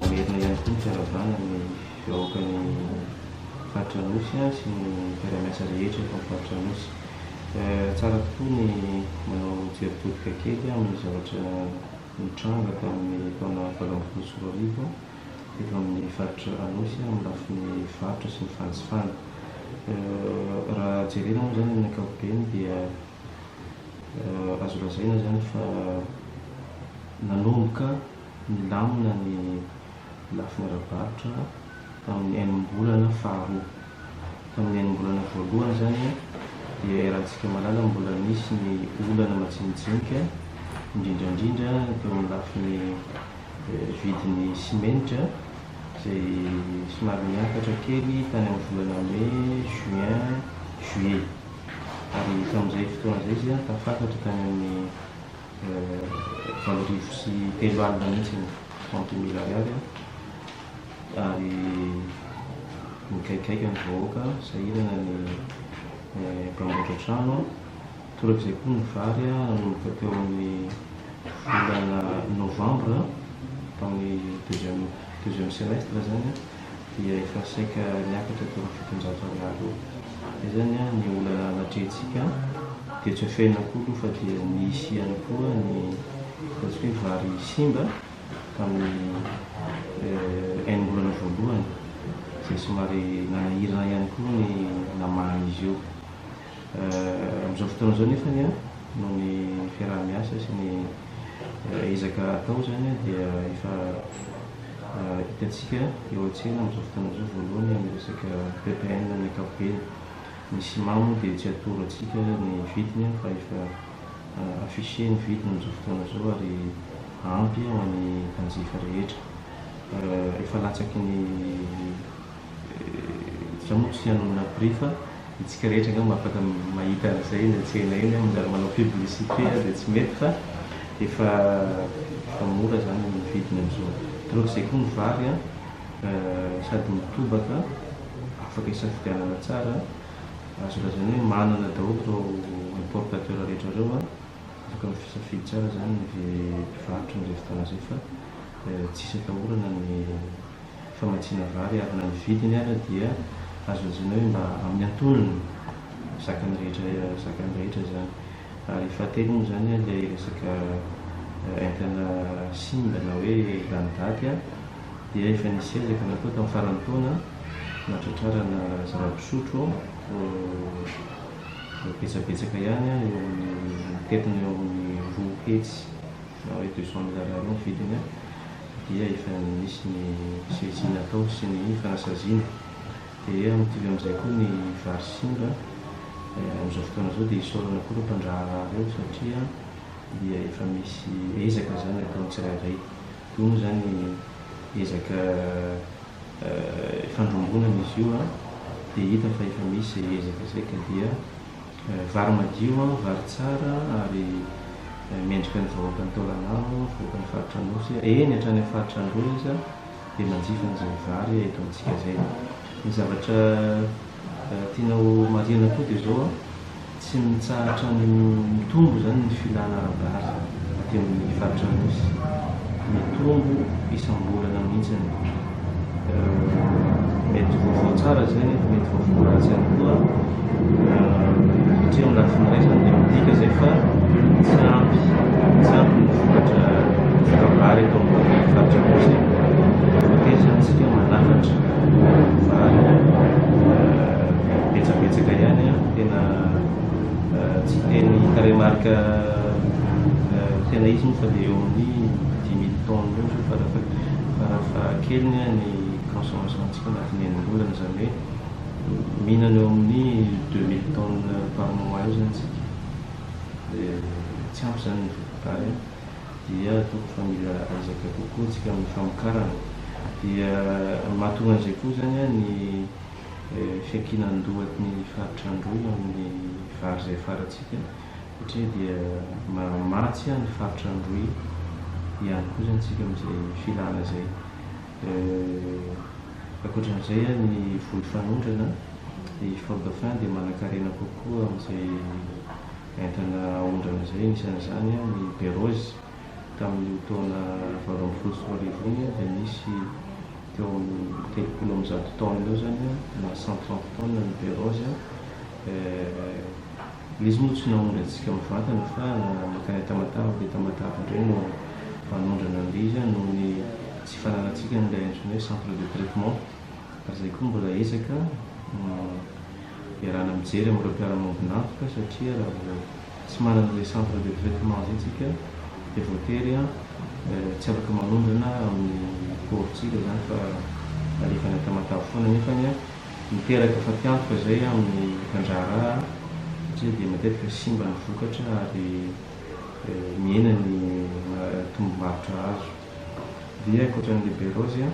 Mamerina ihany koa ny fiarahabana ny vahoaka ny faritra Anosy sy ny mpiara-miasa rehetra eto amin'ny faritra Anosy. Tsara tokoa ny manao jery todika kely amin'ny zavatra nitranga tamin'ny taona valo ambin'ny folo sy roa arivo. eto amin'ny faritra Anosy amin'ny lafiny varotra sy ny fanjifana. Raha jerena moa izany amin'ny ankapobeny dia azo lazaina izany fa nanomboka nilamina ny lafiny ara-barotra tamin'ny enim-bolana faharoa. Tamin'ny enim-bolana voalohany izany dia iarahantsika mahalala mbola nisy ny olana majinijinika, indrindra indrindra teo amin'ny lafiny vidin'ny simenitra izay somary niakatra kely tany amin'ny volana mey, juin, juillet. Ary tamin'izay fotoana izay izy dia tafakatra tany amin'ny valo arivo sy telo alina mihitsy ny trente mille ariary. ary migaigaiga ny vahoaka sahirana ny mpanamboatra trano, toraka izay koa ny vary nanomboka teo amin'ny volana novambra tamin'ny deuxième deuxième semestre izany dia efa saika niakatra teo amin'ny fitonjato ariary eo, izay izany ny olana natrehintsika dia tsy afenina koa aloha fa dia nisy ihany koa ny ataontsika hoe vary simba. tamin'ny enim-bolana voalohany izay somary nanahirana ihany koa ny namaha izy io. Amin'izao fotoana izao nefa ny an, noho ny fiaraha-miasa sy ny ezaka atao izany dia efa hitantsika eo an-tsena amin'izao fotoana izao voalohany amin'ny resaka ppn amin'ny ankapobeny. Ny ciment moa dia tsy atoro antsika ny vidiny fa efa. afficher ny vidiny amin'izao fotoana izao ary ampy ho an'ny mpanjifa rehetra. Efa latsaky ny za moa tsy hanonona prix fa isika rehetra angamba afaka mahita an'izay eny an-tsena eny aho manjary manao publicité aho dia tsy mety fa efa efa mora izany ny vidiny amin'izao. Taraoko izay koa ny vary an sady mitobaka afaka isafidianana tsara Azo lazaina hoe manana daholo ireo importateurs rehetra ireo an! Afaka mifisafidy tsara izany ny mpivarotra amin'izay fotoana izay fa tsisy atahorana ny famatsiana vary ary na ny vidiny ara dia azo lazaina hoe mba amin'ny antonony zakan'ny rehetra zakan'ny rehetra izany. Ary fahatelo moa izany an ilay resaka entana simba na hoe lany daty an! dia efa nisy ezaka natao tamin'ny faran'ny taona nahatratrarana zava pisotro betsabetsaka ihany eo amin'ny mitentina eo amin'ny roa hetsy na hoe deux cent mille ariary eo ny vidiny dia efa nisy ny saisie natao sy ny fanasaziana dia amin'ity avy amin'izay koa ny vary simba amin'izao fotoana izao dia isaorana koa ireo mpandraharaha ireo satria dia efa misy ezaka izany ataon'ny tsirairay Hono izany ezaka fandrombonana izy io dia hita fa efa misy izay ezaka izay ka dia vary madio, vary tsara ary mendrika ny vahoakan'i Taolagnaro, vahoakan'ny faritra Anosy, eny hatrany amin'ny faritra Andohalo aza dia manjifa an'izay vary eto amintsika izay. Ny zavatra. Raha tiana ho marihana koa dia izao, tsy mitsahatra mitombo izany ny filana ara-bary aty amin'ny faritra Anosy. Mitombo isam-bolana mihitsy. Mety vaovao tsara izay nefa mety vaovao ratsy ihany koa satria amin'ny lafiny iray izany dia midika izay fa tsy ampy, tsy ampy ny vokatra ara-bary eto amin'ny faritra Anosy. Voatery izany isika manafatra. Zany betsabetsaka ihany an, tena tsy teny tarehy marika tena izy moa fa dia eo amin'ny dimy tonnes eo zao farafahakeliny an ny consommation antsika anatin'ny enim-bolana, izany hoe mihinana eo amin'ny deux mille tonnes par mois eo izany isika, dia tsy ampy izany ny voka-tany an. dia atoko fa mila ezaka kokoa isika amin'ny famokarana dia mahatonga an'izay koa izany ny fiankinan-dohatny faritra Androy amin'ny vary izay afarantsika satria dia mamatsy ny faritra Androy ihany koa izany isika amin'izay filana izay ankoatran'izay ny voly fanondrana i Fort-dauphin dia manankarena kokoa amin'izay Entana aondrana izay, anisan'izany ny Berose. Tamin'iny taona valo ambin'ny folo sy roa arivo iny dia nisy teo amin'ny telopolo amby zato tonnes eo izany na cent trente tonnes ny Berose. Ilay izy moa tsy naondra antsika mivantana fa mankany Tamatave, be Tamatave indray no manondrana an'ilay izy noho ny tsy fananantsika an'ilay antsoina hoe centre de traitement. ary izay koa mbola ezaka no iarahana mijery amin'ireo mpiara-maombin'antoka satria raha vao tsy manana izay centre de traitement izay tsika dia voatery tsy afaka manondrana amin'ny paovintsika izany fa alefa any Tamatave foana nefany miteraka fatiantoka izay amin'ny mpandraharaha satria dia matetika simba ny vokatra ary mihena ny tombombarotra azo dia ankoatran'ny liberose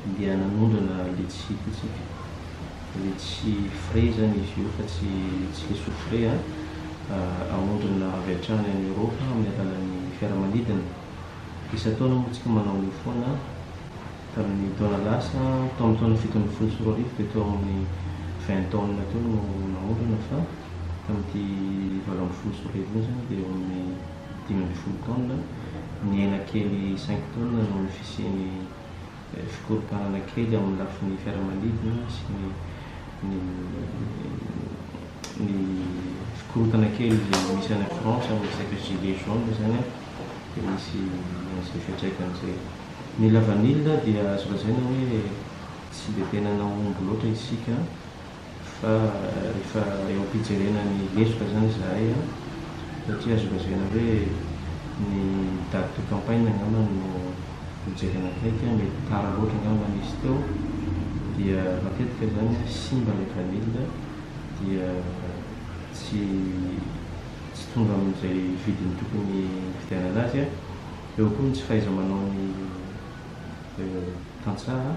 dia nanondrana letchie ity tsika, letchie frais zany izy io fa tsy letchie soufflé a, aondrana avy hatrany any Europe amin'ny alalan'ny fiaramanidina. Isan-taona moa tsika manao an'io foana, tamin'ny taona lasa, tao amin'ny taona fito ambin'ny folo sy roa arivo dia teo amin'ny vingt tonnes teo no naondrana fa tamin'ity valo ambin'ny folo sy roa arivo iny zany dia eo amin'ny dimy ambin'ny folo taonina, ny aina kely cinq taonina noho ny fisian'ny fikorontanana kely amin'ny lafiny fiaramanidina sy ny ny ny fikorontana kely misy any France amin'ny resaka gilets jaunes izany an, dia misy an'izay fiantraikany izay. Ny lavanila dia azo lazaina hoe tsy dia tena nahomby loatra isika. Fa rehefa eo am-pijerena ny lesoka izany izahay an, dia tsy azo lazaina hoe ny date de campagne angamba no hojerena akaiky an, mety tara loatra angamba izy teo, dia matetika izany an simba ilay vanille dia tsy tsy tonga amin'izay vidiny tokony hividianana azy an, eo koa ny tsy fahaiza-manaon'ny. tantsaha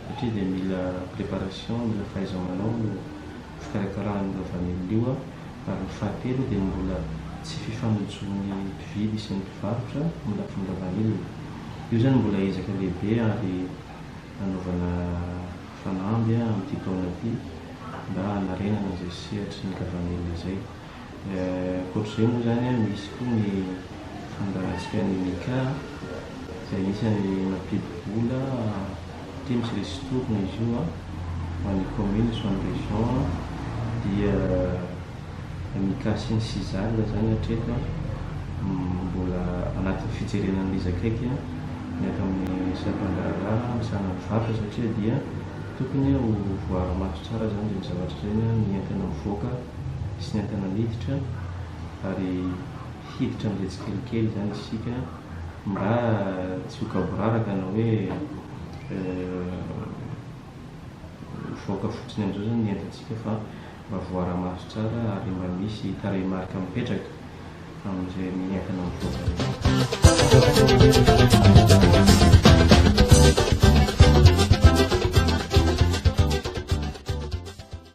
satria dia mila préparation, mila fahaiza-manao no fikarakarana an'io lavanila io ary ny fahatelo dia mbola tsy fifanojon'ny mpividy sy ny mpivarotra ny lafiny lavanila. Io izany mbola ezaka lehibe ary hanaovana fanamby amin'ity taona ity mba hanarenana izay sehatry ny lavanila izay. Ankoatra izay moa izany an, misy koa ny fandaharantsika an'i Mika an, izay anisan'ny mampidi-bola aty misy ristourne izy io an, ho an'ny commune sy ho an'ny région an, dia Mika sy ny Syzal izany hatreto an, mbola anatin'ny fijerena an'ilay izy akaiky an, miaraka amin'ny sampan-draharaha misahana ny varotra satria dia tokony ho voaara-maso tsara izany dia ny zavatra izay an, ny entana mivoaka. sy ny entana miditra ary hiditra amin'izay tsikelikely izany isika mba tsy ho gaboraraka na hoe mivoaka fotsiny amin'izao izany ny entantsika fa mba voara-maso tsara ary mba misy tarehimarika mipetraka amin'ireny entana mivoaka ireny.